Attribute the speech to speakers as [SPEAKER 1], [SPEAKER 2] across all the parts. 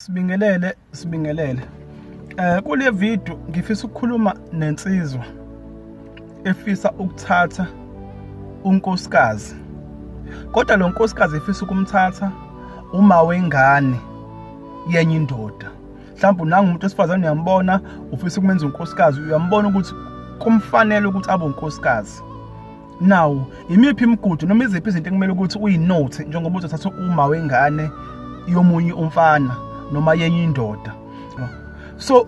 [SPEAKER 1] Sibingelele, sibingelele. Eh kule video ngifisa ukukhuluma nensizwa efisa ukuthatha unkosikazi. Kodwa lo nkosikazi efisa ukumthatha uma wengane yenye indoda. Mhlawumbe unanga umuntu osifazane uyambona ufisa ukumenza unkosikazi, uyambona ukuthi kumfanele ukuthi abe unkosikazi. Now, imiphi imigudu noma iziphi izinto ekumele ukuthi uyinote njengoba uzothatha uma wengane yomunye umfana noma yenye indoda. So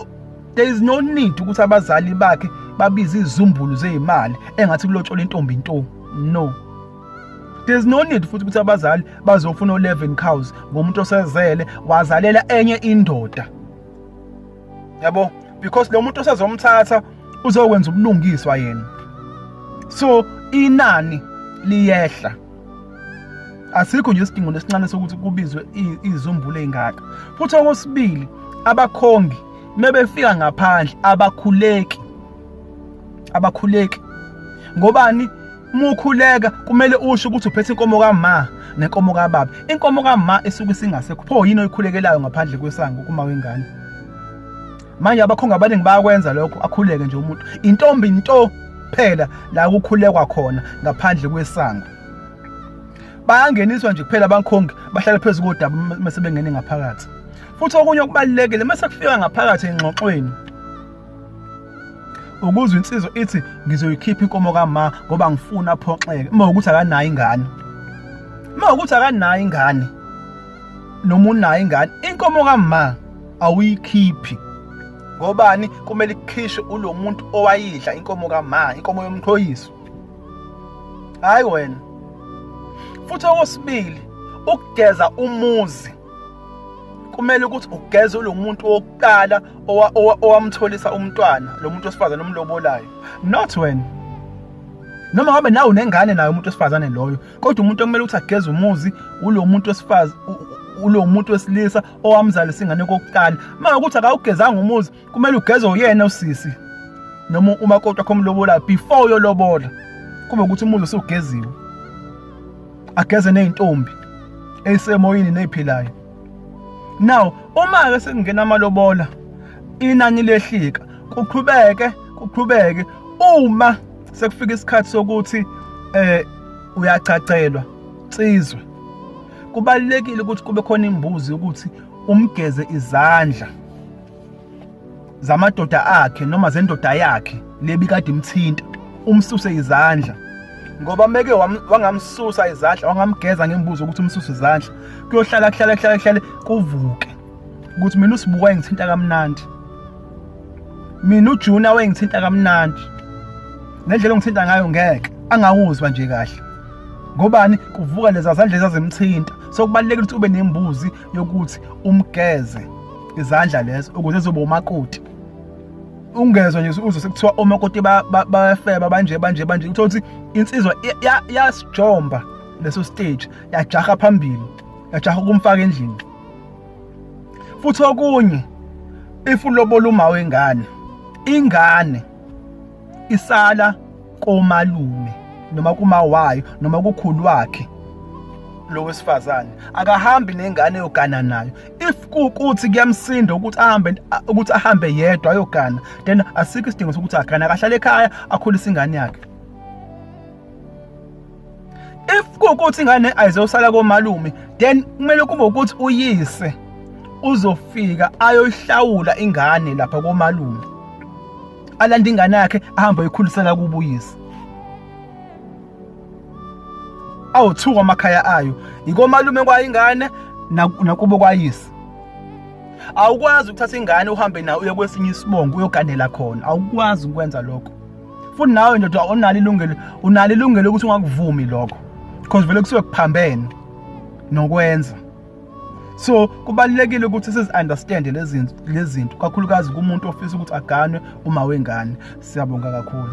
[SPEAKER 1] there is no need ukuthi abazali bakhe babize izumbulu zeimali engathi kulotshola intombi into. No. There's no need futhi ukuthi abazali bazofuna 11 cows ngomuntu osezele wazalela enye indoda. yabo because lo muntu osazomthatha uzokwenza ubulungiswa yena so inani liyehla asikho nje isidingo lesincane sokuthi kubizwe izumbulu ezingaka futhi okwesibili abakhongi mebefika ngaphandle abakhuleki abakhuleki ngobani mukhuleka kumele usho ukuthi uphethe inkomo kama nenkomo kababa inkomo kama esuke singasekho pho yini oyikhulekelayo ngaphandle kwesango kuma wengane manje abakhonga abaningi bayakwenza lokho akhuleke nje umuntu intombi into kuphela la kukhulekwa khona ngaphandle kwesango bayangeniswa nje kuphela abankhongi bahlale phezu kodaba uma sebengene ngaphakathi futhi okunye okubalulekile uma sekufika ngaphakathi engxoxweni ukuzwa insizwa ithi ngizoyikhipha inkomo kama ngoba ngifuna aphoxeke uma ukuthi akanayo ingane uma ukuthi akanayo ingane noma unayo ingane inkomo kama awuyikhiphi ngobani kumele ikhishwe ulo muntu owayidla inkomo kama inkomo yomqhoyiso hayi wena futhi okwesibili ukugeza umuzi kumele ukuthi ugeze lo muntu wokuqala owamtholisa umntwana lo muntu wesifazane omlobolayo not wena noma ngabe nawe unengane naye umuntu wesifazane loyo kodwa umuntu okumele ukuthi ageze umuzi ulo muntu wesifazane ulo muntu wesilisa owamzalisa ingane kokuqala uma ukuthi akawugezanga umuzi kumele ugeze uyena usisi noma umakoti wakho omlobola before uyolobola kube ukuthi umuzi usugeziwe ageze nezintombi esemoyini neziphilayo now uma ke sekungena amalobola inani lehlika kuqhubeke kuqhubeke uma sekufika isikhathi sokuthi eh uyacacelwa sizwe kubalekile ukuthi kube khona imbuzi ukuthi umgeze izandla zamadoda akhe noma zendoda yakhe lebi kade imthinta umsuse izandla ngoba meke wangamsusa izandla wangamgeza ngembuzo ukuthi umsusa izandla kuyohlala kuhlale kuhlale kuhlale kuvuke ukuthi mina usibuka wayengithinta kamnandi mina ujuna wayengithinta kamnandi nendlela ongithinta ngayo ngeke angawuzwa nje kahle ngobani kuvuka leza zandla ezazimthinta so kubalulekile ukuthi ube nembuzi yokuthi umgeze izandla lezo ukuze zoba umakoti ungezwa nje uzwe sekuthiwa omakoti bayafeba banje banje banje uthola ukuthi insizwa yasijomba leso stage yajaha phambili yajaha ukumfaka endlini futhi okunye if ulobola uma wengane ingane isala komalume noma kumawayo noma kukhulu wakhe lo wesifazane akahambi nengane yogana nayo if kukuthi kuyamsinda ukuthi ahambe ukuthi ahambe yedwa ayogana then asikho isidingo sokuthi agane akahlale ekhaya akhulise ingane yakhe if kukuthi ingane ayizosala komalume then kumele kube ukuthi uyise uzofika ayoyihlawula ingane lapha komalume alanda ingane yakhe ahambe ayikhulisela kubuyisa awuthuka amakhaya ayo ikomalume kwayingane nakubo kwayisa awukwazi ukuthatha ingane uhambe nayo uye kwesinye isibongo uyoganela khona awukwazi ukwenza lokho futhi nawe ndoda onalo ilungelo unalo ilungelo ukuthi ungakuvumi lokho because vele kusuke kuphambene nokwenza so kubalulekile ukuthi sizi-understande lezi zinto kakhulukazi kumuntu ofisa ukuthi aganwe uma wengane siyabonga kakhulu